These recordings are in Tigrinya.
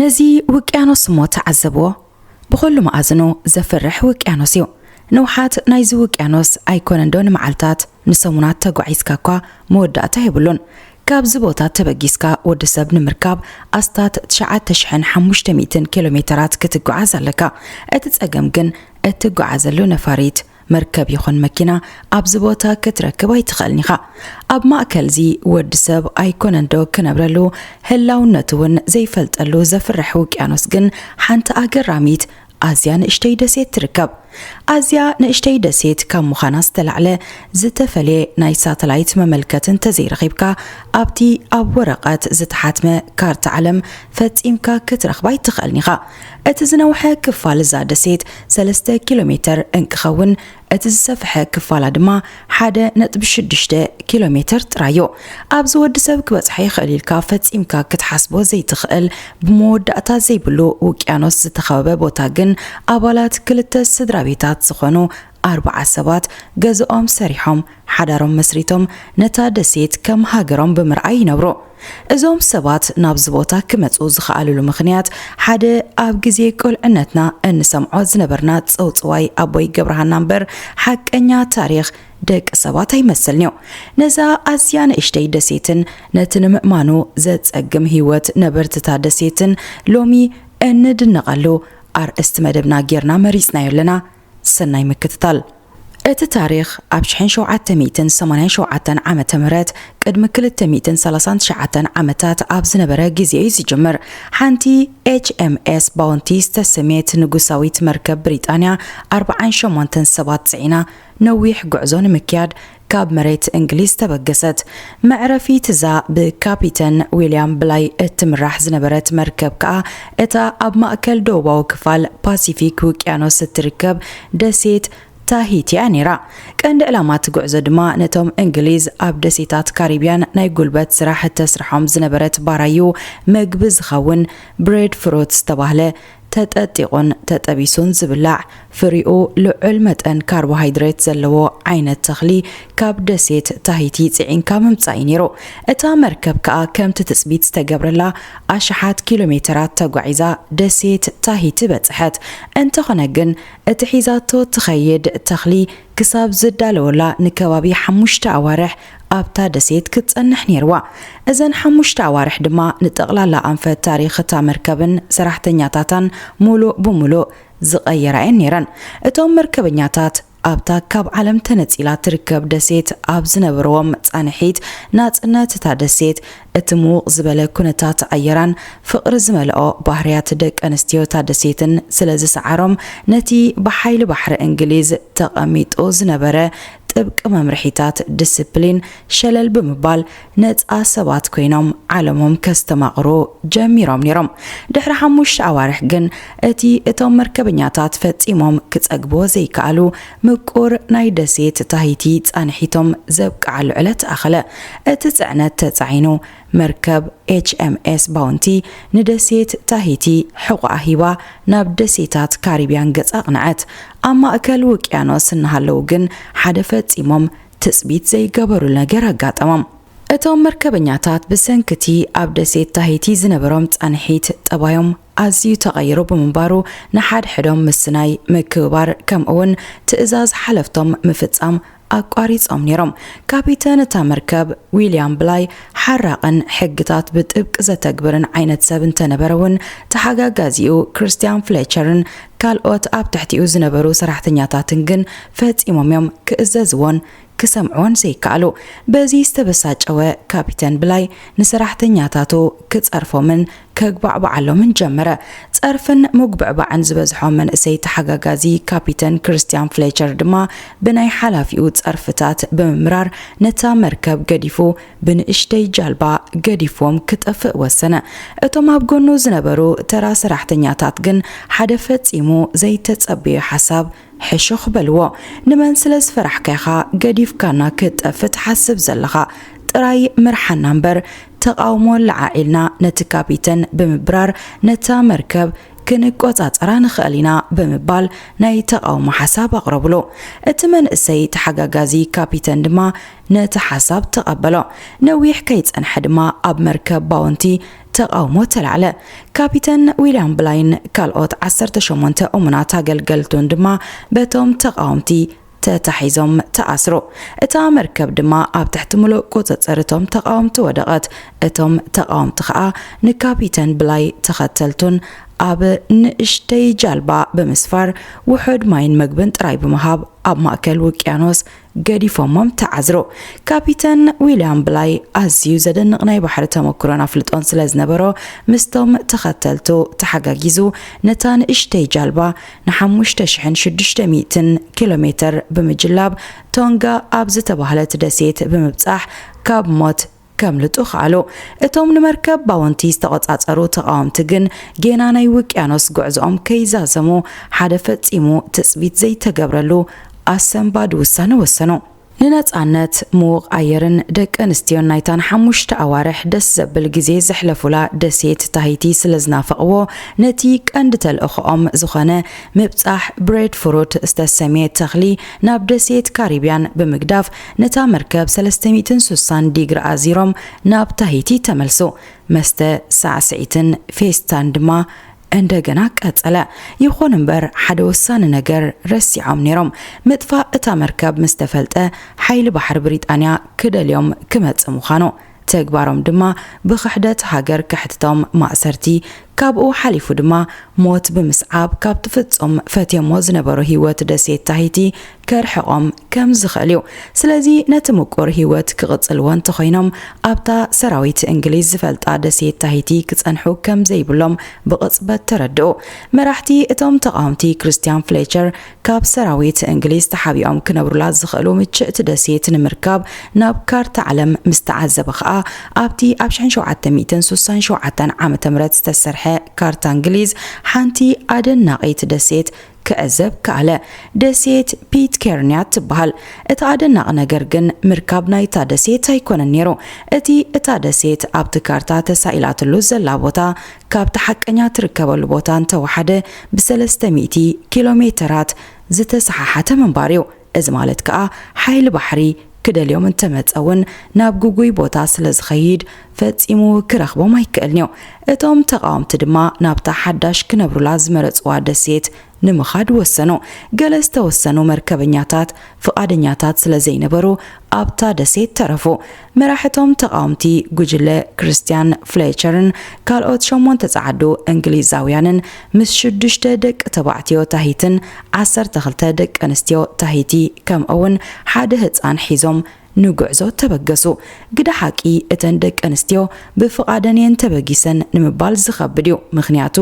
ነዚ ውቅያኖስ እሞ ተዓዘብዎ ብኸሉ መኣዝኑ ዘፍርሕ ውቅያኖስ እዩ። ንውሓት ናይዚ ውቅያኖስ ኣይኮነንዶ ንመዓልታት ንሰሙናት ተጓዒዝካ እኳ መወዳእታ የብሉን። ካብዚ ቦታ ተበጊስካ ወዲ ሰብ ንምርካብ ኣስታት ትሽዓተ ሽሕን ሓሙሽተ ሚእትን ኪሎ ሜተራት ክትጓዓዝ ኣለካ። እቲ ጸገም ግን እትጓዓዘሉ ነፋሪት፣ መርከብ ይኹን መኪና ኣብዚ ቦታ ክትረክብ ኣይትኽእልን ኢኻ። ኣብ ማእከል'ዚ ወዲ ሰብ ኣይኮነንዶ ክነብረሉ ህላውነቱ ውን ዘይፈልጠሉ ዘፍርሕ ውቅያኖስ ግን ሓንቲ ኣገራሚት ኣዝያ ንእሽተይ ደሴት ትርከብ። ኣዝያ ንእሽተይ ደሴት ካብ ምዃና ዝተላዕለ ዝተፈልየ ናይ ሳተላይት መመልከቲ እንተዘይረኺብካ ኣብቲ ኣብ ወረቐት ዝተሓትመ ካርታ ዓለም ፈጺምካ ክትረኽባ ኣይትኽእልን ኢኻ። እቲ ዝነውሐ ክፋል እዛ ደሴት ሰለስተ ኪሎሜተር እንክኸውን እቲ ዝሰፈሐ ክፋላ ድማ ሓደ ነጥቢ ሽዱሽተ ኪሎሜተር ጥራይዮ። ኣብዚ ወዲ ሰብ ክበጽሖ ይኽእል ኢልካ ፈጺምካ ክትሓስቦ ዘይትኽእል ብመወዳእታ ዘይብሉ ውቅያኖስ ዝተኸበበ ቦታ ግን ኣባላት ክልተ ስድራቤታት ዝኾኑ ኣርብዓ ሰባት ገዝኦም ሰሪሖም ሓዳሮም መስሪቶም ነታ ደሴት ከም ሃገሮም ብምርኣይ ይነብሩ። እዞም ሰባት ናብዚ ቦታ ክመጹ ዝኸኣሉሉ ምኽንያት ሓደ ኣብ ግዜ ቁልዕነትና እንሰምዖ ዝነበርና ጽውጽዋይ ኣቦይ ገብረሃና እምበር ሓቀኛ ታሪኽ ደቂ ሰባት ኣይመስልን'ዩ። ነዛ ኣዝያ ንእሽተይ ደሴትን ነቲ ንምእማኑ ዘጸግም ህይወት ነበርቲ'ታ ደሴትን ሎሚ እንድነቐሉ ኣርእስቲ መደብና ጌርና መሪጽናዮ ኣለና። ሰናይ ምክትታል። እቲ ታሪኽ ኣብ ሽሕን ሸውዓተ ሚእትን ሰማንያን ሸውዓተን ዓመተ ምህረት ቅድሚ ክልተ ሚእትን ሰላሳን ትሽዓተን ዓመታት ኣብ ዝነበረ ግዜ እዩ ዝጅምር። ሓንቲ ኤች-ኤም-ኤስ ባውንቲ ዝተሰምየት ንጉሳዊት መርከብ ብሪጣንያ ኣርብዓን ሸሞንተን ሰባት ጽዒና ነዊሕ ጉዕዞ ንምክያድ ካብ መሬት እንግሊዝ ተበገሰት። መዕረፊት እዛ ብካፒተን ዊልያም ብላይ እትምራሕ ዝነበረት መርከብ ከኣ እታ ኣብ ማእከል ደቡባዊ ክፋል ፓሲፊክ ውቅያኖስ እትርከብ ደሴት ታሂቲ እያ ነይራ። ቀንዲ ዕላማ እቲ ጉዕዞ ድማ ነቶም እንግሊዝ ኣብ ደሴታት ካሪብያን ናይ ጉልበት ስራሕ እተስርሖም ዝነበረት ባራዩ መግቢ ዝኸውን ብሬድ ፍሩት ዝተባህለ ተጠጢቑን ተጠቢሱን ዝብላዕ፣ ፍሪኡ ልዑል መጠን ካርቦሃይድሬት ዘለዎ ዓይነት ተኽሊ ካብ ደሴት ታሂቲ ጽዒንካ ምምጻእ'ዩ ነይሩ። እታ መርከብ ከኣ ከምቲ ትጽቢት ዝተገብረላ ኣሽሓት ኪሎሜተራት ተጓዒዛ ደሴት ታሂቲ በጽሐት። እንተኾነ ግን እቲ ሒዛቶ እትኸይድ ተኽሊ፣ ክሳብ ዝዳለወላ ንከባቢ ሓሙሽተ ኣዋርሕ ኣብታ ደሴት ክትጸንሕ ነይርዋ። እዘን ሓሙሽተ ኣዋርሕ ድማ ንጠቕላላ ኣንፈት ታሪኽ እታ መርከብን ሰራሕተኛታታን ምሉእ ብምሉእ ዝቐየራ'የን ነይረን። እቶም መርከበኛታት ኣብታ ካብ ዓለም ተነጺላ እትርከብ ደሴት ኣብ ዝነበርዎም ጻንሒት፣ ናጽነት እታ ደሴት እቲ ምዉቕ ዝበለ ኩነታት ኣየራን ፍቕሪ ዝመልኦ ባህርያት ደቂ ኣንስትዮ እታ ደሴትን ስለ ዝሰዓሮም፣ ነቲ ብሓይሊ ባሕሪ እንግሊዝ ተቐሚጡ ዝነበረ ጥብቂ መምርሒታት ድስፕሊን ሸለል ብምባል ነጻ ሰባት ኮይኖም ዓለሞም ከስተማቕሩ ጀሚሮም ነይሮም። ድሕሪ ሓሙሽተ ኣዋርሕ ግን እቲ እቶም መርከበኛታት ፈጺሞም ክጸግብዎ ዘይከኣሉ ምቁር ናይ ደሴት ታሂቲ ፃንሒቶም ዘብቅዓሉ ዕለት ኣኸለ። እቲ ፅዕነት ተፃዒኑ መርከብ ኤችኤምኤስ ባውንቲ ንደሴት ታሂቲ ሕቑኣ ሂባ ናብ ደሴታት ካሪብያን ገፃ ኣቕነዐት። ኣብ ማእከል ውቅያኖስ እናሃለዉ ግን ሓደ ፈፂሞም ትፅቢት ዘይገበሩሉ ነገር ኣጋጠሞም። እቶም መርከበኛታት ብሰንኪ እቲ ኣብ ደሴት ታሂቲ ዝነበሮም ፃንሒት ጠባዮም፣ ኣዝዩ ተቐይሩ ብምንባሩ ንሓድሕዶም ምስናይ፣ ምክብባር፣ ከምኡ'ውን ትእዛዝ ሓለፍቶም ምፍጻም ኣቋሪጾም ነይሮም። ካፒተን እታ መርከብ ዊልያም ብላይ ሓራቕን ሕግታት ብጥብቂ ዘተግብርን ዓይነት ሰብ እንተነበረ'ውን፣ ተሓጋጋዚኡ ክርስትያን ፍሌቸርን ካልኦት ኣብ ትሕቲኡ ዝነበሩ ሰራሕተኛታትን ግን ፈጺሞም'ዮም ክእዘዝዎን ክሰምዕዎን ዘይከኣሉ። በዚ ዝተበሳጨወ ካፒተን ብላይ ንሰራሕተኛታቱ ክጸርፎምን ከጉባዕብዓሎምን ጀመረ። ጸርፍን ምጉብዕባዕን ዝበዝሖ መንእሰይ ተሓጋጋዚ ካፒተን ክርስትያን ፍሌቸር ድማ ብናይ ሓላፊኡ ጸርፍታት ብምምራር ነታ መርከብ ገዲፉ ብንእሽተይ ጃልባ ገዲፍዎም ክጠፍእ ወሰነ። እቶም ኣብ ጎኑ ዝነበሩ ተራ ሰራሕተኛታት ግን ሓደ ፈጺሙ ዘይተጸበዮ ሓሳብ ሕሹኽ በልዎ ንመን ስለ ዝፈራሕካ ኢኻ ገዲፍካና ክትጠፍእ ትሓስብ ዘለኻ ጥራይ ምርሓና እምበር ተቓውሞ ኣለዓዒልና ነቲ ካፒተን ብምብራር ነታ መርከብ ክንቆጻጸራ ንኽእል ኢና ብምባል ናይ ተቓውሞ ሓሳብ ኣቕረብሉ እቲ መንእሰይ ተሓጋጋዚ ካፒተን ድማ ነቲ ሓሳብ ተቐበሎ ነዊሕ ከይጸንሐ ድማ ኣብ መርከብ ባውንቲ ተቓውሞ ተላዕለ። ካፒተን ዊልያም ብላይን ካልኦት ዓሰርተ ሸሞንተ እሙናት ኣገልገልቱን ድማ በቶም ተቓወምቲ ተታሒዞም ተኣስሩ። እታ መርከብ ድማ ኣብ ትሕቲ ምሉእ ቁጽጽር እቶም ተቓወምቲ ወደቐት። እቶም ተቓወምቲ ከኣ ንካፒተን ብላይ ተኸተልቱን ኣብ ንእሽተይ ጃልባ ብምስፋር ውሑድ ማይን መግብን ጥራይ ብምሃብ ኣብ ማእከል ውቅያኖስ ገዲፎሞም ተዓዝሮ። ካፒተን ዊልያም ብላይ ኣዝዩ ዘደንቕ ናይ ባሕሪ ተመክሮን ኣፍልጦን ስለ ዝነበሮ፣ ምስቶም ተኸተልቱ ተሓጋጊዙ ነታ ንእሽተይ ጃልባ ንሓሙሽተ ሽሕን ሽዱሽተ ሚእትን ኪሎ ሜተር ብምጅላብ ቶንጋ ኣብ ዝተባህለት ደሴት ብምብጻሕ ካብ ሞት ከምልጡ ከኣሉ። እቶም ንመርከብ ባወንቲ ዝተቖጻጸሩ ተቓወምቲ ግን ጌና ናይ ውቅያኖስ ጉዕዞኦም ከይዛዘሙ ሓደ ፈጺሙ ትጽቢት ዘይተገብረሉ ኣሰንባዲ ውሳነ ወሰኑ። ንነጻነት፣ ምዉቕ ኣየርን ደቂ ኣንስትዮን ናይታ ንሓሙሽተ ኣዋርሕ ደስ ዘብል ግዜ ዘሕለፉላ ደሴት ታሂቲ ስለ ዝናፈቕዎ ነቲ ቀንዲ ተልእኾኦም ዝኾነ ምብጻሕ ብሬድፍሩት ዝተሰምየ ተኽሊ ናብ ደሴት ካሪብያን ብምግዳፍ ነታ መርከብ ሰለስተ ሚእትን ሱሳን ዲግሪ ኣዚሮም ናብ ታሂቲ ተመልሱ። መስተ፣ ሳዕስዒትን ፌስታን ድማ እንደገና ቀጸለ። ይኹን እምበር ሓደ ወሳኒ ነገር ረሲዖም ነይሮም። ምጥፋእ እታ መርከብ ምስ ተፈልጠ ሓይሊ ባሕሪ ብሪጣንያ ክደልዮም ክመጽእ ምዃኑ። ተግባሮም ድማ ብክሕደት ሃገር ከሕትቶም ማእሰርቲ ካብኡ ሓሊፉ ድማ ሞት ብምስዓብ ካብቲ ፍጹም ፈትዮሞ ዝነበሩ ሂወት ደሴት ታሂቲ ከርሕቆም ከም ዝኽእል እዩ ስለዚ ነቲ ምቁር ሂወት ክቕጽልዎ እንተኾይኖም ኣብታ ሰራዊት እንግሊዝ ዝፈልጣ ደሴት ታሂቲ ክጸንሑ ከም ዘይብሎም ብቕጽበት ተረድኡ መራሕቲ እቶም ተቓወምቲ ክርስትያን ፍሌቸር ካብ ሰራዊት እንግሊዝ ተሓቢኦም ክነብሩላ ዝኽእሉ ምችእቲ ደሴት ንምርካብ ናብ ካርታ ዓለም ምስ ተዓዘበ ኸኣ ኣብቲ ኣብ ሽሕን ሸውዓተ ሚእትን ሱሳን ሸውዓተን ዓመተ ምህረት ዝተሰርሐ ካርታ እንግሊዝ ሓንቲ ኣደናቒት ደሴት ክዕዘብ ከኣለ። ደሴት ፒትኬርንያ ትበሃል። እቲ ኣደናቒ ነገር ግን ምርካብ ናይታ ደሴት ኣይኮነን ነይሩ። እቲ እታ ደሴት ኣብቲ ካርታ ተሳኢላትሉ ዘላ ቦታ ካብቲ ሓቀኛ ትርከበሉ ቦታ እንተወሓደ ብሰለስተ ሚእቲ ኪሎ ሜተራት ዝተሰሓሓተ ምንባር እዩ። እዚ ማለት ከኣ ሓይሊ ባሕሪ ክደልዮም እንተመጸ እውን ናብ ግጉይ ቦታ ስለዝኸይድ ፈጺሙ ክረኽቦም ኣይክእልን'ዩ። እቶም ተቓወምቲ ድማ ናብታ ሓዳሽ ክነብሩላ ዝመረጽዋ ደሴት ንምኻድ ወሰኑ። ገለ ዝተወሰኑ መርከበኛታት ፍቓደኛታት ስለ ዘይነበሩ ኣብታ ደሴት ተረፉ። መራሕቶም ተቓወምቲ ጉጅለ ክርስትያን ፍሌቸርን ካልኦት ሸሞንተ ጸዓዱ እንግሊዛውያንን ምስ ሽዱሽተ ደቂ ተባዕትዮ ታሂትን ዓሰርተ ክልተ ደቀንስትዮ ታሂቲ ከምኡውን ሓደ ህጻን ሒዞም ንጉዕዞ ተበገሱ። ግደ ሓቂ እተን ደቂ ኣንስትዮ ብፍቓደን'የን ተበጊሰን ንምባል ዝኸብድ'ዩ፣ ምኽንያቱ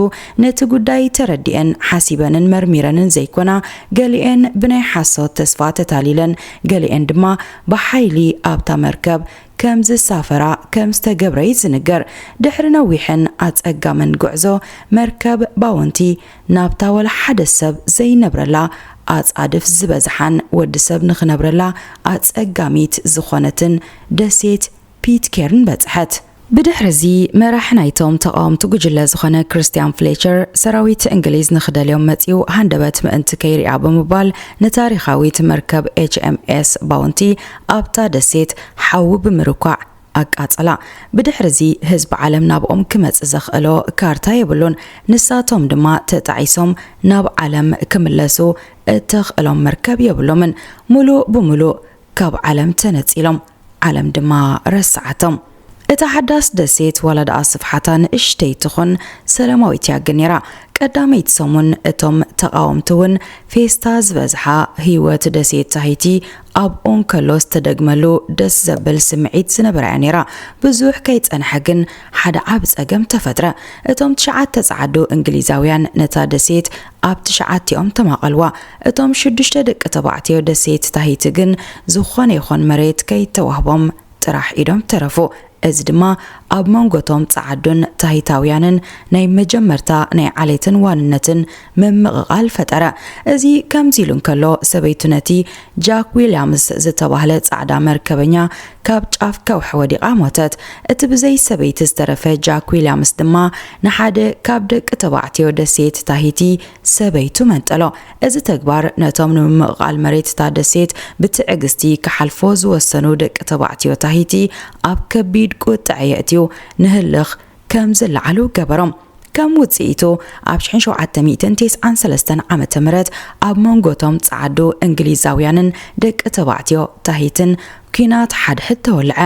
ነቲ ጉዳይ ተረዲኤን፣ ሓሲበንን መርሚረንን ዘይኮና፣ ገሊኤን ብናይ ሓሶት ተስፋ ተታሊለን፣ ገሊኤን ድማ ብሓይሊ ኣብታ መርከብ ከም ዝሳፈራ ከም ዝተገብረ'ዩ ዝንገር። ድሕሪ ነዊሕን ኣጸጋምን ጉዕዞ፣ መርከብ ባውንቲ ናብታ ወላ ሓደ ሰብ ዘይነብረላ ኣጻድፍ ዝበዝሓን ወዲ ሰብ ንኽነብረላ ኣጸጋሚት ዝኾነትን ደሴት ፒትኬርን በጽሐት። ብድሕሪ'ዚ መራሒ ናይቶም ተቓወምቲ ጉጅለ ዝኾነ ክርስትያን ፍሌቸር፣ ሰራዊት እንግሊዝ ንኽደልዮም መጺኡ ሃንደበት ምእንቲ ከይርኣ ብምባል ንታሪኻዊት መርከብ ኤችኤምኤስ ባውንቲ ኣብታ ደሴት ሓዊ ብምርኳዕ ኣቃጸላ። ብድሕሪዚ ህዝቢ ዓለም ናብኦም ክመጽእ ዘኽእሎ ካርታ የብሉን፣ ንሳቶም ድማ ተጣዒሶም ናብ ዓለም ክምለሱ እተኽእሎም መርከብ የብሎምን። ምሉእ ብምሉእ ካብ ዓለም ተነጺሎም፣ ዓለም ድማ ረስዓቶም። እታ ሓዳስ ደሴት ዋላ ደኣ ስፍሓታ ንእሽተይ ትኹን ሰላማዊት እያ ግን ነይራ። ቀዳመይቲ ሰሙን እቶም ተቓወምቲ እውን ፌስታ ዝበዝሓ ህይወት ደሴት ታሂቲ ኣብኡ እንከሎ ዝተደግመሉ ደስ ዘብል ስምዒት ዝነበራ'ያ ነይራ። ብዙሕ ከይጸንሐ ግን ሓደ ዓቢ ጸገም ተፈጥረ። እቶም ትሽዓተ ጸዓዱ እንግሊዛውያን ነታ ደሴት ኣብ ትሽዓቲኦም ተማቐልዋ። እቶም ሽዱሽተ ደቂ ተባዕትዮ ደሴት ታሂቲ ግን ዝኾነ ይኹን መሬት ከይተዋህቦም ጥራሕ ኢዶም ተረፉ። እዚ ድማ ኣብ መንጎ'ቶም ጸዓዱን ታሂታውያንን ናይ መጀመርታ ናይ ዓሌትን ዋንነትን ምምቕቓል ፈጠረ። እዚ ከምዚ ኢሉ እንከሎ፣ ሰበይቱ ነቲ ጃክ ዊልያምስ ዝተባህለ ጻዕዳ መርከበኛ ካብ ጫፍ ከውሒ ወዲቓ ሞተት። እቲ ብዘይ ሰበይቲ ዝተረፈ ጃክ ዊልያምስ ድማ ንሓደ ካብ ደቂ ተባዕትዮ ደሴት ታሂቲ ሰበይቱ መንጠሎ። እዚ ተግባር ነቶም ንምምቕቓል መሬት እታ ደሴት ብትዕግስቲ ክሓልፎ ዝወሰኑ ደቂ ተባዕትዮ ታሂቲ ኣብ ከቢድ ቁጠዐ የእትዩ ንህልኽ ከም ዝለዓሉ ገበሮም። ከም ውጽኢቱ፣ ኣብ ሽሕን ሸውዓተ ሚእትን ቴስዓን ሰለስተን ዓመተ ምህረት ኣብ መንጎ እቶም ጸዓዱ እንግሊዛውያንን ደቂ ተባዕትዮ ታሂትን ኲናት ሓድሕድ ተወልዐ።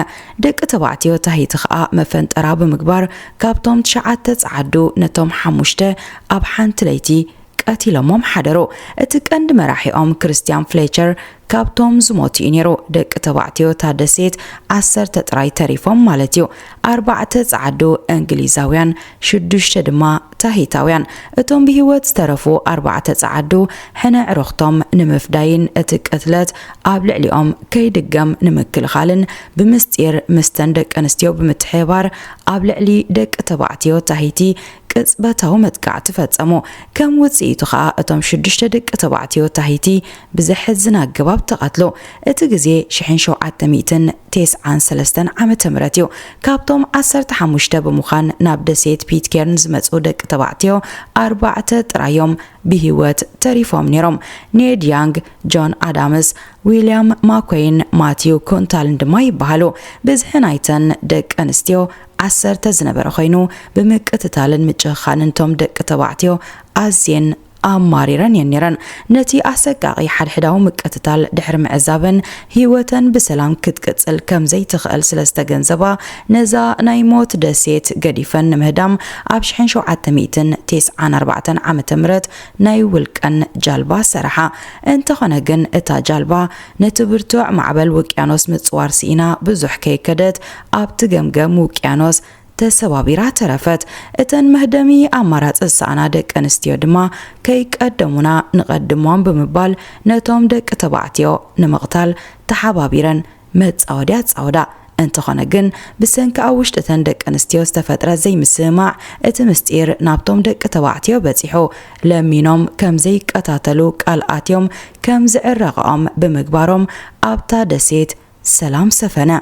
ደቂ ተባዕትዮ ታሂቲ ከኣ መፈንጠራ ብምግባር ካብቶም ትሽዓተ ጸዓዱ ነቶም ሓሙሽተ ኣብ ሓንቲ ለይቲ ቀቲሎሞም ሓደሩ። እቲ ቀንዲ መራሒኦም ክርስትያን ፍሌቸር ካብቶም ዝሞቱ እዩ ነይሩ። ደቂ ተባዕትዮ እታ ደሴት ዓሰርተ ጥራይ ተሪፎም ማለት እዩ፣ ኣርባዕተ ጸዓዱ እንግሊዛውያን፣ ሽዱሽተ ድማ ታሂታውያን። እቶም ብህይወት ዝተረፉ ኣርባዕተ ጸዓዱ ሕነ ኣዕሩኽቶም ንምፍዳይን እቲ ቅትለት ኣብ ልዕሊኦም ከይድገም ንምክልኻልን ብምስጢር ምስተን ደቀንስትዮ ብምትሕብባር ኣብ ልዕሊ ደቂ ተባዕትዮ ታሂቲ ቅጽበታዊ መጥቃዕቲ ፈጸሙ፣ ከም ውጽኢቱ ከኣ እቶም ሽዱሽተ ደቂ ተባዕትዮ ታሂቲ ብዘሕዝን ኣገባብ ተቐትሉ። እቲ ግዜ ሽሕን ሸውዓተ ሚእትን ቴስዓን ሰለስተን ዓመተ ምህረት እዩ፣ ካብቶም ዓሰርተ ሓሙሽተ ብምዃን ናብ ደሴት ፒትኬርን ዝመጽኡ ደቂ ተባዕትዮ ኣርባዕተ ጥራይ እዮም ብህይወት ተሪፎም ነይሮም፣ ኔድ ያንግ፣ ጆን ኣዳምስ፣ ዊልያም ማኮይን ማቲው ኩንታልን ድማ ይበሃሉ። ብዝሒ ናይተን ደቂ ኣንስትዮ ዓሰርተ ዝነበረ ኮይኑ ብምቅትታልን ምጭኽኻንን እቶም ደቂ ተባዕትዮ ኣዝየን ኣማሪረን እየን ነይረን። ነቲ ኣሰቃቒ ሓድሕዳዊ ምቅትታል ድሕሪ ምዕዛበን ህይወተን ብሰላም ክትቅጽል ከም ዘይትኽእል ስለ ዝተገንዘባ ነዛ ናይ ሞት ደሴት ገዲፈን ንምህዳም ኣብ ሽሕን ሸውዓተ ሚእትን ቴስዓን ኣርባዕተን ዓመተ ምህረት ናይ ውልቀን ጃልባ ሰራሓ። እንተኾነ ግን እታ ጃልባ ነቲ ብርቱዕ ማዕበል ውቅያኖስ ምጽዋር ስኢና ብዙሕ ከይከደት ኣብቲ ገምገም ውቅያኖስ ተሰባቢራ ተረፈት። እተን መህደሚ ኣማራጺ ዝሰኣና ደቂ ኣንስትዮ ድማ ከይቀደሙና ንቐድሞም ብምባል ነቶም ደቂ ተባዕትዮ ንምቕታል ተሓባቢረን መጻወድያ ኣጻወዳ። እንተኾነ ግን ብሰንኪ ኣብ ውሽጢ እተን ደቂ ኣንስትዮ ዝተፈጥረ ዘይምስምማዕ እቲ ምስጢር ናብቶም ደቂ ተባዕትዮ በጺሑ ለሚኖም ከም ዘይቀታተሉ ቃል ኣትዮም ከም ዝዕረቐኦም ብምግባሮም ኣብታ ደሴት ሰላም ሰፈነ።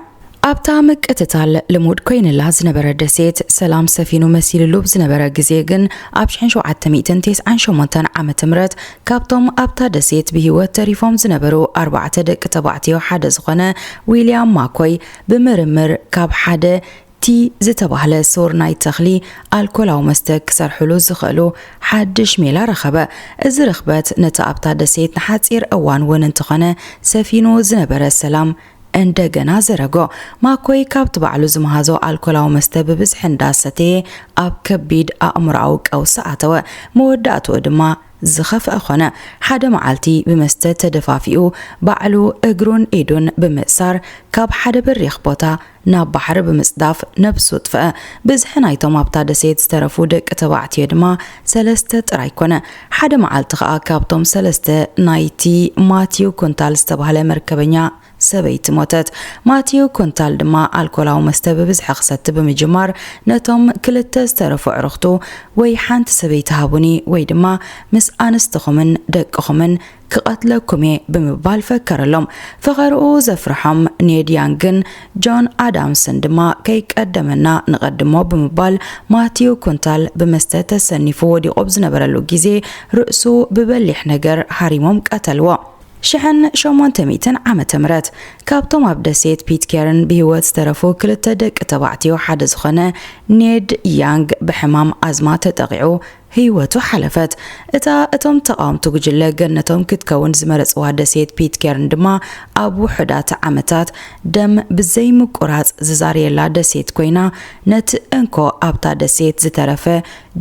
ኣብታ ምቅትታል ልሙድ ኮይንላ ዝነበረ ደሴት ሰላም ሰፊኑ መሲልሉ ብ ዝነበረ ግዜ ግን ኣብ ሽሕን ሸውዓተ ሚእትን ቴስዓን ሸሞንተን ዓመተ ምህረት ካብቶም ኣብታ ደሴት ብሂወት ተሪፎም ዝነበሩ ኣርባዕተ ደቂ ተባዕትዮ ሓደ ዝኾነ ዊልያም ማኮይ ብምርምር ካብ ሓደ እቲ ዝተባህለ ሱር ናይ ተኽሊ ኣልኮላዊ መስተ ክሰርሕሉ ዝኽእሉ ሓድሽ ሜላ ረኸበ። እዚ ርኽበት ነቲ ኣብታ ደሴት ንሓጺር እዋን እውን እንተኾነ ሰፊኑ ዝነበረ ሰላም እንደገና ዘረጎ። ማኮይ ካብቲ ባዕሉ ዝመሃዞ ኣልኮላዊ መስተ ብብዝሒ እንዳ ሰተየ ኣብ ከቢድ ኣእምሮኣዊ ቀውሲ ኣተወ። መወዳእትኡ ድማ ዝኸፍኣ ኮነ። ሓደ መዓልቲ ብመስተ ተደፋፊኡ ባዕሉ እግሩን ኢዱን ብምእሳር ካብ ሓደ በሪኽ ቦታ ናብ ባሕሪ ብምጽዳፍ ነብሱ ኣጥፍኣ። ብዝሒ ናይቶም ኣብታ ደሴት ዝተረፉ ደቂ ተባዕትዮ ድማ ሰለስተ ጥራይ ኮነ። ሓደ መዓልቲ ከኣ ካብቶም ሰለስተ ናይቲ ማቲው ኩንታል ዝተባህለ መርከበኛ ሰበይቲ ሞተት። ማቲው ኩንታል ድማ ኣልኮላዊ መስተ ብብዝሒ ክሰቲ ብምጅማር ነቶም ክልተ ዝተረፉ ኣዕሩኽቱ ወይ ሓንቲ ሰበይቲ ሃቡኒ ወይ ድማ ምስ ኣንስትኹምን ደቅኹምን ክቐትለኩም እየ ብምባል ፈከረሎም። ፈኸርኡ ዘፍርሖም ኔድ ያንግን ጆን ኣዳምስን ድማ ከይቀደመና ንቐድሞ ብምባል ማቲው ኩንታል ብመስተ ተሰኒፉ ወዲቑ ኣብ ዝነበረሉ ግዜ ርእሱ ብበሊሕ ነገር ሃሪሞም ቀተልዎ። ሽሕን ሸሞንተ ሚእትን ዓመተ ምህረት ካብቶም ኣብ ደሴት ፒትኬርን ብህይወት ዝተረፉ ክልተ ደቂ ተባዕትዮ ሓደ ዝኾነ ኔድ ያንግ ብሕማም ኣዝማ ተጠቒዑ ህይወቱ ሓለፈት። እታ እቶም ተቓወምቲ ጉጅለ ገነቶም ክትከውን ዝመረጽዋ ደሴት ፒትኬርን ድማ ኣብ ውሑዳት ዓመታት ደም ብዘይምቁራጽ ዝዛርየላ ደሴት ኮይና ነቲ እንኮ ኣብታ ደሴት ዝተረፈ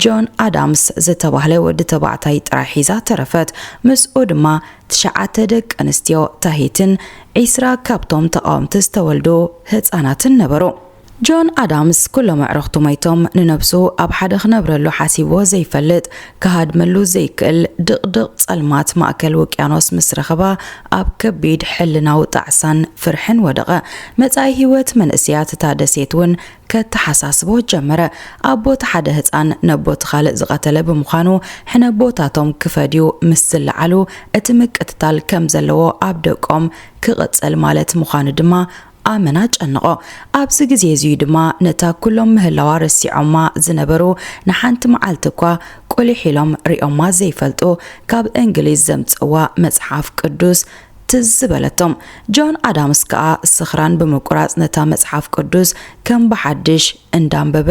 ጆን ኣዳምስ ዝተባህለ ወዲ ተባዕታይ ጥራይ ሒዛ ተረፈት። ምስኡ ድማ ትሽዓተ ደቂ ኣንስትዮ ታሂትን ዒስራ ካብቶም ተቓወምቲ ዝተወልዱ ህጻናትን ነበሩ። ጆን ኣዳምስ ኩሎም ኣዕርኽቱ ሞይቶም ንነብሱ ኣብ ሓደ ክነብረሉ ሓሲብዎ ዘይፈልጥ ክሃድመሉ ዘይክእል ድቕድቕ ጸልማት ማእከል ውቅያኖስ ምስ ረኸባ ኣብ ከቢድ ሕልናዊ ጣዕሳን ፍርሕን ወደቐ። መጻኢ ህይወት መንእሰያት እታ ደሴት እውን ከተሓሳስቦ ጀመረ። ኣቦ እቲ ሓደ ህጻን ነቦ እቲ ካልእ ዝቐተለ ብምዃኑ ሕነቦታቶም ክፈድዩ ምስ ዝለዓሉ እቲ ምቅትታል ከም ዘለዎ ኣብ ደቆም ክቕጽል ማለት ምዃኑ ድማ ኣመና ኣጨነቖ። ኣብዚ ግዜ እዚ እዩ ድማ ነታ ኩሎም ምህላዋ ረሲዖማ ዝነበሩ ንሓንቲ መዓልቲ እኳ ቁሊሕ ኢሎም ሪኦማ ዘይፈልጡ ካብ እንግሊዝ ዘምጽእዋ መጽሓፍ ቅዱስ ትዝ በለቶም። ጆን ኣዳምስ ከኣ ስኽራን ብምቁራጽ ነታ መጽሓፍ ቅዱስ ከም ብሓድሽ እንዳንበበ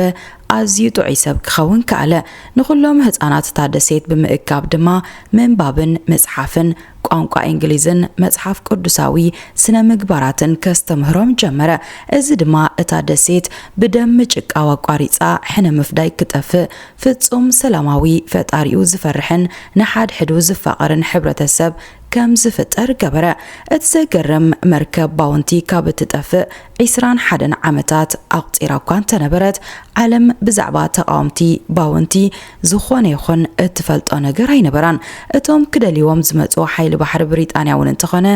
ኣዝዩ ጥዑይ ሰብ ክኸውን ከኣለ። ንኹሎም ህጻናት እታ ደሴት ብምእካብ ድማ ምንባብን ምጽሓፍን፣ ቋንቋ እንግሊዝን መጽሓፍ ቅዱሳዊ ስነ ምግባራትን ከስተምህሮም ጀመረ። እዚ ድማ እታ ደሴት ብደም ምጭቃው ኣቋሪጻ ሕነ ምፍዳይ ክጠፍእ፣ ፍጹም ሰላማዊ፣ ፈጣሪኡ ዝፈርሕን ንሓድሕዱ ዝፋቐርን ሕብረተሰብ ከም ዝፍጠር ገበረ። እቲ ዘገርም መርከብ ባውንቲ ካብ እትጠፍእ ዒስራን ሓደን ዓመታት ኣቑጺራ እኳ እንተነበረት፣ ዓለም ብዛዕባ ተቓወምቲ ባውንቲ ዝኾነ ይኹን እትፈልጦ ነገር ኣይነበራን። እቶም ክደልይዎም ዝመጹ ሓይሊ ባሕሪ ብሪጣንያ እውን እንተኾነ፣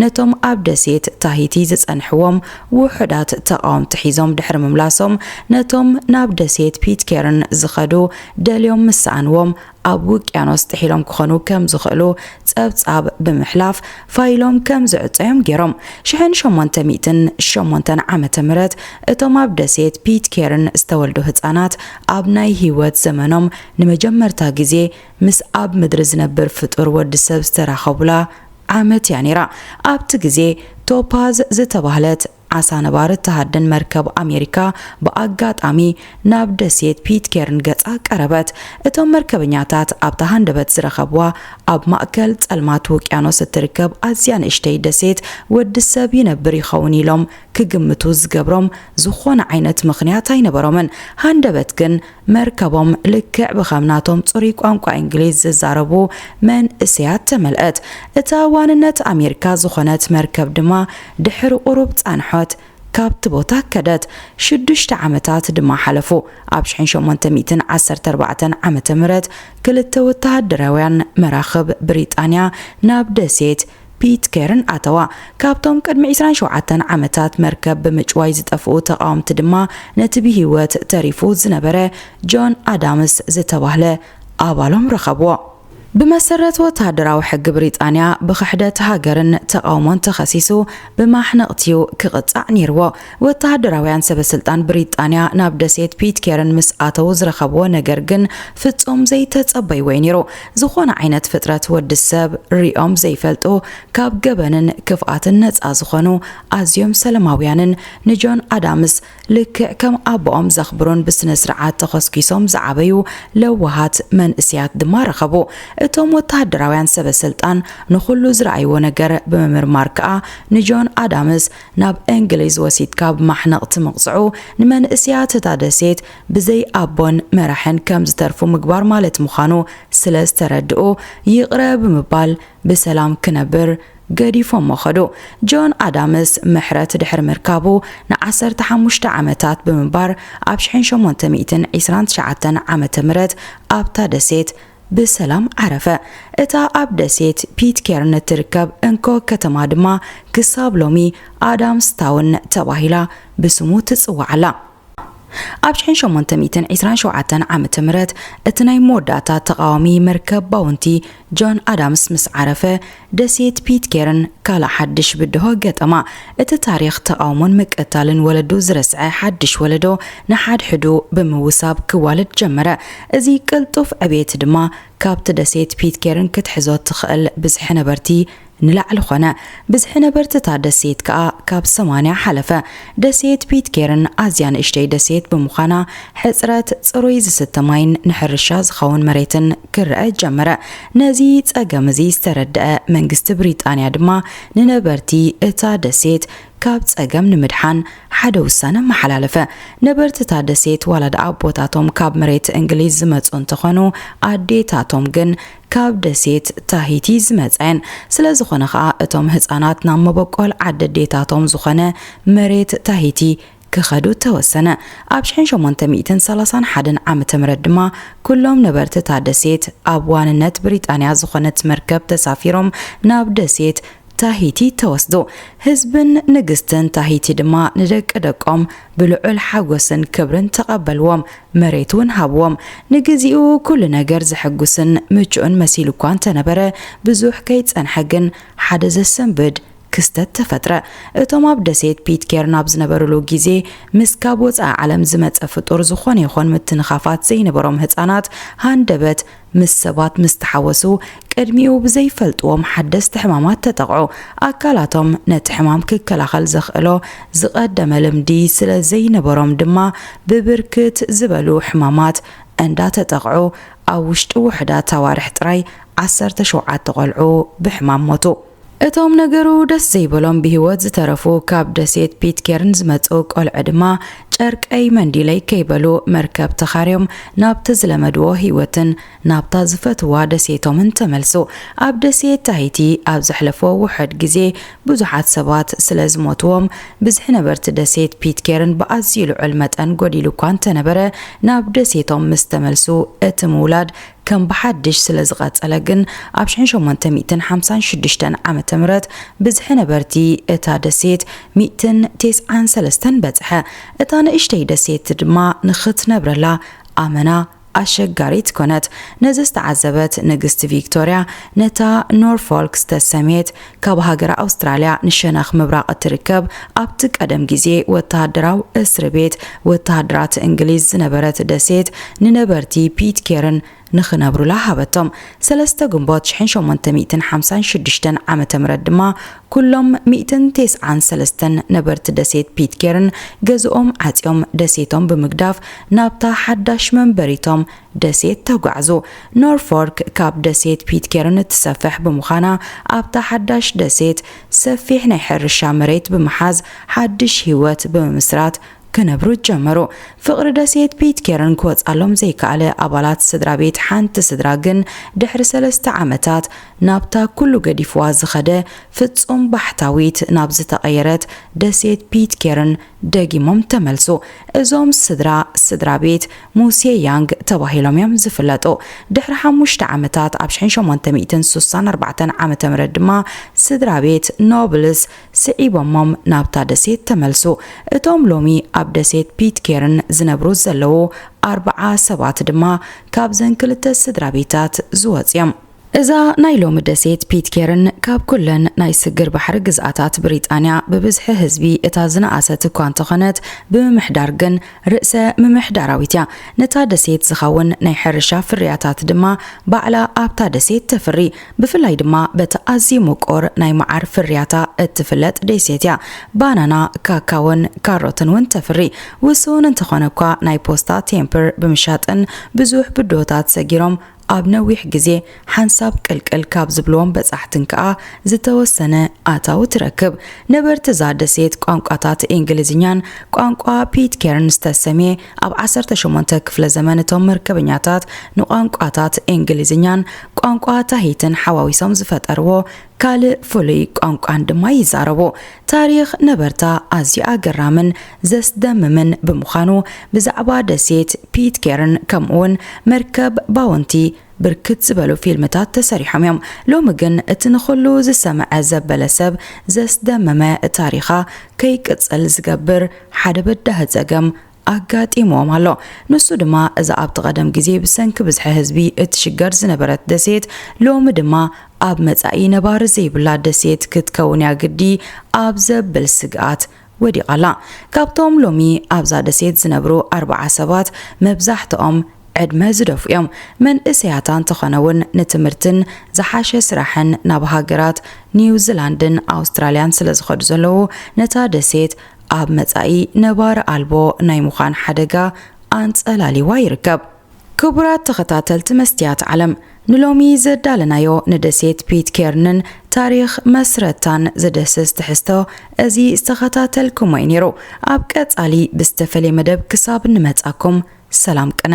ነቶም ኣብ ደሴት ታሂቲ ዝጸንሕዎም ውሑዳት ተቓወምቲ ሒዞም ድሕሪ ምምላሶም፣ ነቶም ናብ ደሴት ፒትኬርን ዝኸዱ ደልዮም ምስ ሰኣንዎም፣ ኣብ ውቅያኖስ ጥሒሎም ክኾኑ ከም ዝኽእሉ ጸብጻብ ብምሕላፍ ፋይሎም ከም ዝዕጸዮም ገይሮም። ሽሕን ሸሞንተ ሚእትን ሸሞንተን ዓመተ ምህረት እቶም ኣብ ደሴት ፒትኬርን ዝተወልዱ ህጻናት ኣብ ናይ ህይወት ዘመኖም ንመጀመርታ ግዜ ምስ ኣብ ምድሪ ዝነብር ፍጡር ወዲ ሰብ ዝተራኸቡላ ዓመት እያ ነይራ። ኣብቲ ግዜ ቶፓዝ ዝተባህለት ዓሳ ነባሪ እትሃድን መርከብ ኣሜሪካ ብኣጋጣሚ ናብ ደሴት ፒትኬርን ገጻ ቀረበት። እቶም መርከበኛታት ኣብታ ሃንደበት ዝረኸብዋ ኣብ ማእከል ጸልማት ውቅያኖስ እትርከብ ኣዝያ ንእሽተይ ደሴት ወዲ ሰብ ይነብር ይኸውን ኢሎም ክግምቱ ዝገብሮም ዝኾነ ዓይነት ምኽንያት ኣይነበሮምን። ሃንደበት ግን መርከቦም ልክዕ ብኸም ናቶም ጽሩይ ቋንቋ እንግሊዝ ዝዛረቡ መንእሰያት ተመልእት። እታ ዋንነት ኣሜሪካ ዝኾነት መርከብ ድማ ድሕሪ ቁሩብ ጻንሖት ካብቲ ቦታ ከደት። ሽዱሽተ ዓመታት ድማ ሓለፉ። ኣብ ሽሕን ሸሞንተ ሚእትን ዓሰርተ ኣርባዕተን ዓመተ ምህረት ክልተ ወተሃደራውያን መራኽብ ብሪጣንያ ናብ ደሴት ፒትኬርን ኣተዋ። ካብቶም ቅድሚ ዕስራን ሸውዓተን ዓመታት መርከብ ብምጭዋይ ዝጠፍኡ ተቓወምቲ ድማ ነቲ ብህይወት ተሪፉ ዝነበረ ጆን ኣዳምስ ዝተባህለ ኣባሎም ረኸብዎ። ብመሰረት ወተሃደራዊ ሕጊ ብሪጣንያ ብኽሕደት ሃገርን ተቓውሞን ተኸሲሱ ብማሕነቕቲ'ዩ ክቕጻዕ ነይርዎ። ወተሃደራውያን ሰበስልጣን ብሪጣንያ ናብ ደሴት ፒትኬርን ምስ ኣተው ዝረኸብዎ ነገር ግን ፍጹም ዘይተጸበይዎ'ዩ ነይሩ። ዝኾነ ዓይነት ፍጥረት ወዲ ሰብ ሪኦም ዘይፈልጡ፣ ካብ ገበንን ክፍኣትን ነጻ ዝኾኑ፣ ኣዝዮም ሰለማውያንን ንጆን ኣዳምስ ልክዕ ከም ኣቦኦም ዘኽብሩን ብስነስርዓት ተኾስኲሶም ዝዓበዩ ለዋሃት መንእሲያት ድማ ረኸቡ። እቶም ወተሃደራውያን ሰበስልጣን ንኹሉ ዝረኣይዎ ነገር ብምምርማር ከኣ ንጆን ኣዳምስ ናብ እንግሊዝ ወሲድካ ብ ማሕነቕቲ ምቕጽዑ ንመንእስያት እታ ደሴት ብዘይ ኣቦን መራሕን ከም ዝተርፉ ምግባር ማለት ምዃኑ ስለ ዝተረድኡ ይቕረ ብምባል ብሰላም ክነብር ገዲፎሞ ከዱ። ጆን ኣዳምስ ምሕረት ድሕሪ ምርካቡ ን ዓሰርተ ሓሙሽተ ዓመታት ብምንባር ኣብ ሽሕን ሸሞንተ ሚእትን ዒስራን ትሽዓተን ዓመተ ምህረት ኣብታ ደሴት ብሰላም ዓረፈ። እታ ኣብ ደሴት ፒትኬርን እትርከብ እንኮ ከተማ ድማ ክሳብ ሎሚ ኣዳምስታውን ተባሂላ ብስሙ ትጽዋዕ ኣላ። ኣብ ሽሕን ሸሞንተ ሚእትን ዒስራን ሸውዓተን ዓመተ ምህረት እቲ ናይ መወዳእታ ተቓዋሚ መርከብ ባውንቲ ጆን ኣዳምስ ምስ ዓረፈ፣ ደሴት ፒትኬርን ካልእ ሓድሽ ብድሆ ገጠማ። እቲ ታሪኽ ተቓውሞን ምቅታልን ወለዱ ዝረስዐ ሓድሽ ወለዶ ንሓድሕዱ ብምውሳብ ክዋለድ ጀመረ። እዚ ቅልጡፍ ዕብየት ድማ ካብቲ ደሴት ፒትኬርን ክትሕዞ እትኽእል ብዝሒ ነበርቲ ንላዕሊ ኾነ። ብዝሒ ነበርቲ እታ ደሴት ከኣ ካብ ሰማንያ ሓለፈ። ደሴት ፒትኬርን ኣዝያ ንእሽተይ ደሴት ብምዃና ሕጽረት ጽሩይ ዝስተ ማይን ንሕርሻ ዝኸውን መሬትን ክረኣ ጀመረ። ነዚ ጸገም እዚ ዝተረድኣ መንግስቲ ብሪጣንያ ድማ ንነበርቲ እታ ደሴት ካብ ጸገም ንምድሓን ሓደ ውሳነ ኣመሓላለፈ። ነበርቲ እታ ደሴት ዋላ ደኣ ኣቦታቶም ካብ መሬት እንግሊዝ ዝመጹ እንተኾኑ ኣዴታቶም ግን ካብ ደሴት ታሂቲ ዝመጻ እየን። ስለዝኾነ ከኣ እቶም ህጻናት ናብ መበቆል ዓዲ ኣዴታቶም ዝኾነ መሬት ታሂቲ ክኸዱ ተወሰነ። ኣብ ሽሕን ሸሞንተ ሚእትን ሰላሳን ሓደን ዓመተ ምህረት ድማ ኩሎም ነበርቲ እታ ደሴት ኣብ ዋንነት ብሪጣንያ ዝኾነት መርከብ ተሳፊሮም ናብ ደሴት ታሂቲ ተወስዱ። ህዝብን ንግስትን ታሂቲ ድማ ንደቂ ደቆም ብልዑል ሓጎስን ክብርን ተቐበልዎም፣ መሬት እውን ሃብዎም። ንግዚኡ ኩሉ ነገር ዘሐጉስን ምቹእን መሲሉ እኳ እንተነበረ ብዙሕ ከይጸንሐ ግን ሓደ ዘሰንብድ ክስተት ተፈጥረ። እቶም ኣብ ደሴት ፒትኬርን ኣብ ዝነበሩሉ ግዜ ምስ ካብ ወጻኢ ዓለም ዝመጸ ፍጡር ዝኾነ ይኹን ምትንኻፋት ዘይነበሮም ህጻናት ሃንደበት ምስ ሰባት ምስ ተሓወሱ ቅድሚኡ ብዘይፈልጥዎም ሓደስቲ ሕማማት ተጠቕዑ። ኣካላቶም ነቲ ሕማም ክከላኸል ዘኽእሎ ዝቐደመ ልምዲ ስለ ዘይነበሮም ድማ ብብርክት ዝበሉ ሕማማት እንዳተጠቕዑ ኣብ ውሽጢ ውሑዳት ኣዋርሕ ጥራይ ዓሰርተ ሸውዓተ ቆልዑ ብሕማም ሞቱ። እቶም ነገሩ ደስ ዘይበሎም ብህይወት ዝተረፉ ካብ ደሴት ፒትኬርን ዝመጹ ቆልዑ ድማ ጨርቀይ መንዲለይ ከይበሉ መርከብ ተኻርዮም ናብቲ ዝለመድዎ ህይወትን ናብታ ዝፈትዋ ደሴቶምን ተመልሱ። ኣብ ደሴት ታሂቲ ኣብ ዘሕለፎ ውሑድ ግዜ ብዙሓት ሰባት ስለ ዝሞትዎም ብዝሒ ነበርቲ ደሴት ፒትኬርን ብኣዝዩ ልዑል መጠን ጎዲሉ እኳ እንተነበረ ናብ ደሴቶም ምስ ተመልሱ እቲ ምውላድ ከም ብሓድሽ ስለ ዝቐጸለ ግን፣ ኣብ ሽሕን ሸሞንተ ሚእትን ሓምሳን ሽዱሽተን ዓመተ ምህረት ብዝሒ ነበርቲ እታ ደሴት ሚእትን ቴስዓን ሰለስተን በጽሐ። እታ ንእሽተይ ደሴት ድማ ንኽትነብረላ ኣመና ኣሸጋሪት ኰነት። ነዚ ዝተዓዘበት ንግስቲ ቪክቶርያ፣ ነታ ኖርፎልክ ዝተሰምየት ካብ ሃገረ ኣውስትራልያ ንሸነኽ ምብራቕ እትርከብ ኣብቲ ቀደም ግዜ ወተሃደራዊ እስሪ ቤት ወተሃደራት እንግሊዝ ዝነበረት ደሴት ንነበርቲ ፒትኬርን ንኽነብሩላ ሃበቶም። ሰለስተ ግንቦት ሽሕን ሸሞንተ ሚእትን ሓምሳን ሽዱሽተን ዓመተ ምሕረት ድማ ኩሎም ሚእትን ቴስዓን ሰለስተን ነበርቲ ደሴት ፒትኬርን ገዝኦም ዓጽዮም ደሴቶም ብምግዳፍ ናብታ ሓዳሽ መንበሪቶም ደሴት ተጓዕዙ። ኖርፎልክ ካብ ደሴት ፒትኬርን እትሰፍሕ ብምዃና፣ ኣብታ ሓዳሽ ደሴት ሰፊሕ ናይ ሕርሻ መሬት ብምሓዝ ሓድሽ ህይወት ብምምስራት ክነብሩ ጀመሩ። ፍቕሪ ደሴት ፒትኬርን ክወጽኣሎም ዘይከኣለ ኣባላት ስድራ ቤት ሓንቲ ስድራ ግን ድሕሪ ሰለስተ ዓመታት ናብታ ኩሉ ገዲፍዋ ዝኸደ ፍጹም ባሕታዊት ናብ ዝተቐየረት ደሴት ፒትኬርን ደጊሞም ተመልሱ። እዞም ስድራ ስድራ ቤት ሙሴ ያንግ ተባሂሎም እዮም ዝፍለጡ። ድሕሪ ሓሙሽተ ዓመታት ኣብ ሽሕን ሸሞንተ ሚእትን ሱሳን ኣርባዕተን ዓመተ ምህረት ድማ ስድራቤት ኖብልስ ስዒቦሞም ናብታ ደሴት ተመልሱ። እቶም ሎሚ ኣብ ደሴት ፒትኬርን ዝነብሩ ዘለዉ ኣርብዓ ሰባት ድማ ካብዘን ክልተ ስድራቤታት ዝወጹ እዮም። እዛ ናይ ሎሚ ደሴት ፒትኬርን ካብ ኩለን ናይ ስግር ባሕሪ ግዝኣታት ብሪጣንያ ብብዝሒ ህዝቢ እታ ዝነኣሰት እኳ እንተኾነት ብምምሕዳር ግን ርእሰ ምምሕዳራዊት እያ። ነታ ደሴት ዝኸውን ናይ ሕርሻ ፍርያታት ድማ ባዕላ ኣብታ ደሴት ተፍሪ። ብፍላይ ድማ በቲ ኣዝዩ ምቁር ናይ መዓር ፍርያታ እትፍለጥ ደሴት እያ። ባናና፣ ካካዎን ካሮትን እውን ተፍሪ። ውሱን እንተኾነ እኳ ናይ ፖስታ ቴምፕር ብምሻጥን ብዙሕ ብድሆታት ሰጊሮም ኣብ ነዊሕ ግዜ ሓንሳብ ቅልቅል ካብ ዝብልዎም በጻሕትን ከኣ ዝተወሰነ ኣታዊ ትረክብ። ነበርቲ እዛ ደሴት ቋንቋታት እንግሊዝኛን ቋንቋ ፒትኬርን ዝተሰምየ ኣብ ዓሰርተ ሸሞንተ ክፍለ ዘመን እቶም መርከበኛታት ንቋንቋታት እንግሊዝኛን ቋንቋ ታሂትን ሓዋዊሶም ዝፈጠርዎ ካልእ ፍሉይ ቋንቋን ድማ ይዛረቡ። ታሪኽ ነበርታ ኣዝዩ ኣገራምን ዘስደምምን ብምዃኑ ብዛዕባ ደሴት ፒትኬርን ከምኡ'ውን መርከብ ባውንቲ ብርክት ዝበሉ ፊልምታት ተሰሪሖም እዮም። ሎሚ ግን እቲ ንኹሉ ዝሰምዐ ዘበለ ሰብ ዘስደመመ ታሪኻ ከይቅጽል ዝገብር ሓደ በዳሂ ጸገም ኣጋጢምዎም ኣሎ። ንሱ ድማ እዛ ኣብቲ ቀደም ግዜ ብሰንኪ ብዝሒ ህዝቢ እትሽገር ዝነበረት ደሴት ሎሚ ድማ ኣብ መጻኢ ነባሪ ዘይብላ ደሴት ክትከውን እያ ግዲ ኣብ ዘብል ስግኣት ወዲቓ ኣላ። ካብቶም ሎሚ ኣብዛ ደሴት ዝነብሩ ኣርብዓ ሰባት መብዛሕትኦም ዕድመ ዝደፍኡ እዮም። መንእሰያት ኣንተኾነ እውን ንትምህርትን ዝሓሸ ስራሕን ናብ ሃገራት ኒውዚላንድን ኣውስትራልያን ስለዝኸዱ ዘለዉ ነታ ደሴት ኣብ መጻኢ ነባሪ ኣልቦ ናይ ምዃን ሓደጋ ኣንጸላልይዋ ይርከብ። ክቡራት ተኸታተልቲ መስትያት ዓለም፣ ንሎሚ ዘዳለናዮ ንደሴት ፒትኬርንን ታሪኽ መስረታን ዝድህስስ ትሕዝቶ እዚ ዝተኸታተልኩሞ እዩ ነይሩ። ኣብ ቀጻሊ ብዝተፈልየ መደብ ክሳብ እንመጻኩም ሰላም ቅነ።